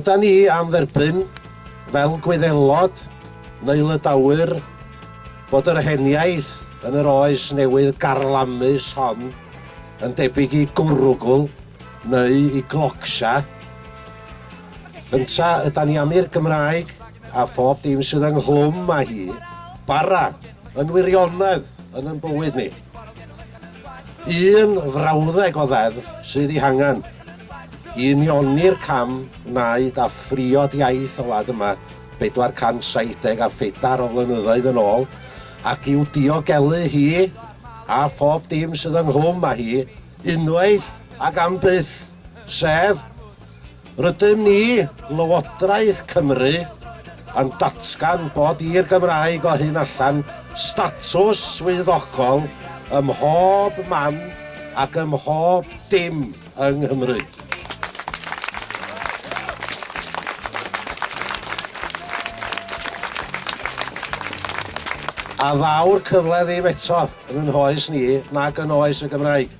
Yda ni am dderbyn, fel Gwyddelod, neu Lydawyr, bod yr heniaith yn yr oes newydd garlamus hon yn debyg i gwrwgl neu i glocsia? Ynta ydan ni am i'r Gymraeg, a phob dim sydd ynghlwm â hi, bara yn wirionedd yn yn bywyd ni? Un frawddeg o ddeddf sydd ei hangen i unioni'r cam wnaed a phriod iaith y wlad yma 470 a phedair o flynyddoedd yn ôl, ac i'w diogelu hi a phob dim sydd ynghlwm â hi, unwaith ac am byth, sef, Rydym ni, Lywodraeth Cymru, yn datgan bod i'r Gymraeg o hyn allan statws swyddogol ym mhob man ac ym mhob dim yng Nghymru. A ddaw'r cyfle ddim eto yn ein hoes ni nag yn oes y Gymraeg.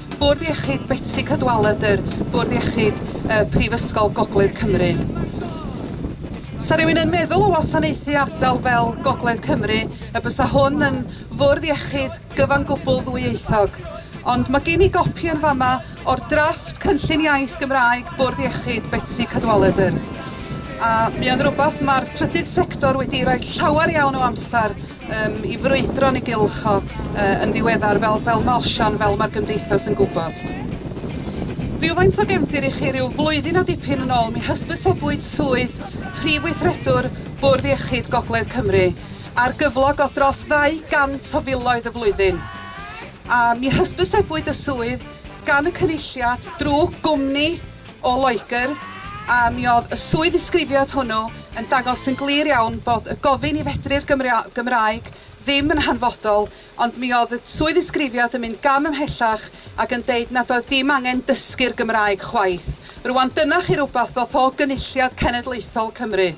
Bwrdd Iechyd Betsi Cadwaladr, Bwrdd Iechyd y Prifysgol Gogledd Cymru. Sa rhywun yn meddwl o wasanaethu ardal fel Gogledd Cymru y bysa hwn yn fwrdd iechyd gyfan gwbl ddwyieithog, ond mae gen i gopi yn fama o'r drafft cynllun iaith Gymraeg Bwrdd Iechyd Betsi Cadwaladr, a mi o'n rhywbeth mae'r trydydd sector wedi rhoi llawer iawn o amser Yym, i frwydro yn ei gylch o yy yn ddiweddar, fel fel ma' Osian, fel ma'r Gymdeithas yn gwybod. Rywfaint o gefndir i chi, ryw flwyddyn a dipyn yn ôl, mi hysbysebwyd swydd Prif Weithredwr Bwrdd Iechyd Gogledd Cymru ar gyflog o dros 200 o filoedd y flwyddyn, a mi hysbysebwyd y swydd gan y Cynulliad drw gwmni o Loegr, a mi oedd y swydd ddisgrifiad hwnnw yn dangos yn glir iawn bod y gofyn i fedru'r Gymraeg ddim yn hanfodol, ond mi oedd y swydd ddisgrifiad yn mynd gam ymhellach ac yn deud nad oedd dim angen dysgu'r Gymraeg chwaith. Rŵan, dyna chi rywbeth fath o gynulliad cenedlaethol Cymru.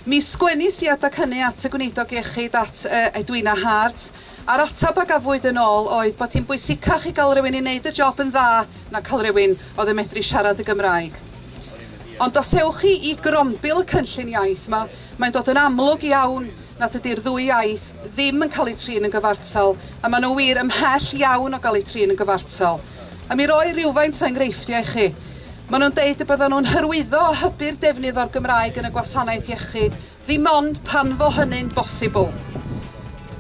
Mi sgwennis i adeg hynny at y Gweinidog Iechyd, at Edwina Hart, a'r ateb a gafwyd yn ôl oedd bod hi'n bwysicach i gael rhywun i wneud y job yn dda na cael rhywun oedd yn medru siarad y Gymraeg. Ond os ewch chi i grombil y cynllun iaith 'ma, mae'n dod yn amlwg iawn nad ydy'r ddwy iaith ddim yn cael eu trin yn gyfartal, a maen nhw wir ymhell iawn o gael eu trin yn gyfartal. A mi roi rhywfaint o enghreifftiau i chi. Maen nhw'n deud y byddan nhw'n hyrwyddo a hybu'r defnydd o'r Gymraeg yn y gwasanaeth iechyd, ddim ond pan fo hynny'n bosibl.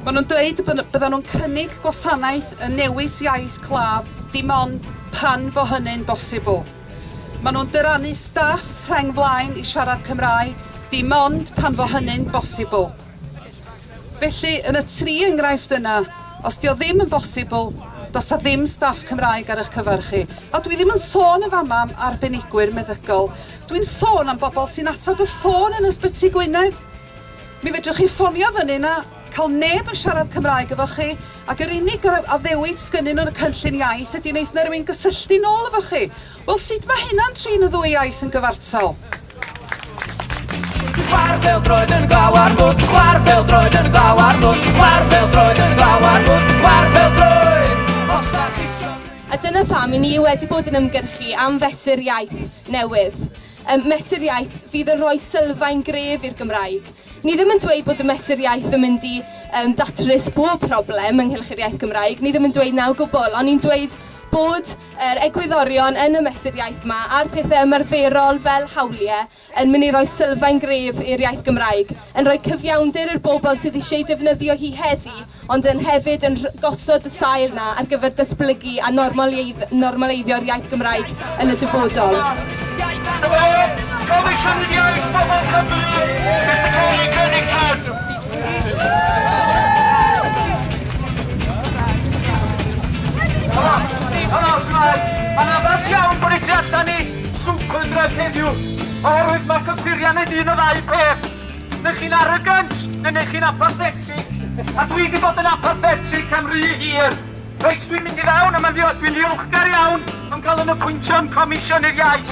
Maen nhw'n dweud y byddan nhw'n cynnig gwasanaeth yn newis iaith claf, dim ond pan fo hynny'n bosibl. Maen nhw'n dyrannu staff rheng flaen i siarad Cymraeg, dim ond pan fo hynny'n bosibl. Felly, yn y tri enghraifft yna, os 'di o ddim yn bosibl, does 'na ddim staff Cymraeg ar eich cyfer chi. A dwi ddim yn sôn yn fama am arbenigwyr meddygol, dwi'n sôn am bobl sy'n ateb y ffôn yn Ysbyty Gwynedd. Mi fedrwch chi ffonio fyny 'na, cael neb yn siarad Cymraeg efo chi, ac yr unig addewid sgynnyn nhw yn y cynllun iaith ydi neith 'na rywun gysylltu nôl efo chi. Wel, sut ma' hynna'n trin y ddwy iaith yn gyfartal? Chwar fel droed yn glaw ar mwd, chwar fel droed yn glaw ar mwd, chwar fel droed yn glaw ar mwd, chwar fel droed, os da chi A dyna pam i ni wedi bod yn ymgyrchu am fesur iaith newydd. Um, mesur iaith fydd yn rhoi sylfaen gref i'r Gymraeg. Ni ddim yn dweud bod y mesur iaith yn mynd i um, datrys bob problem ynghylch yr iaith Gymraeg. Ni ddim yn dweud naw gwbl, ond ni'n dweud bod yr egwyddorion yn y Mesur Iaith 'ma a'r pethe ymarferol fel hawlie yn myn' i roi sylfaen gref i'r iaith Gymraeg, yn rhoi cyfiawnder i'r bobl sydd isie ei defnyddio hi heddi ond yn hefyd yn rh- gosod y sail 'na ar gyfer datblygu a normaleiddd- normaleiddio'r iaith Gymraeg yn y dyfodol. Comisiynydd Iaith Bobl Cymru, Mister Cary Cunningham. Mae'n addas iawn bod ni tu allan i Super Drug heddiw, oherwydd mae cyffuriau'n neud un o ddau peth. Neu chi'n arrogant, neu neu chi'n apathetic. A dwi wedi bod yn apathetic am rhy hir. Reit, dwi'n mynd i fewn a mae'n ddiolch, dwi'n ddiolchgar iawn am cael yn y pwyntion Comisiynydd Iaith.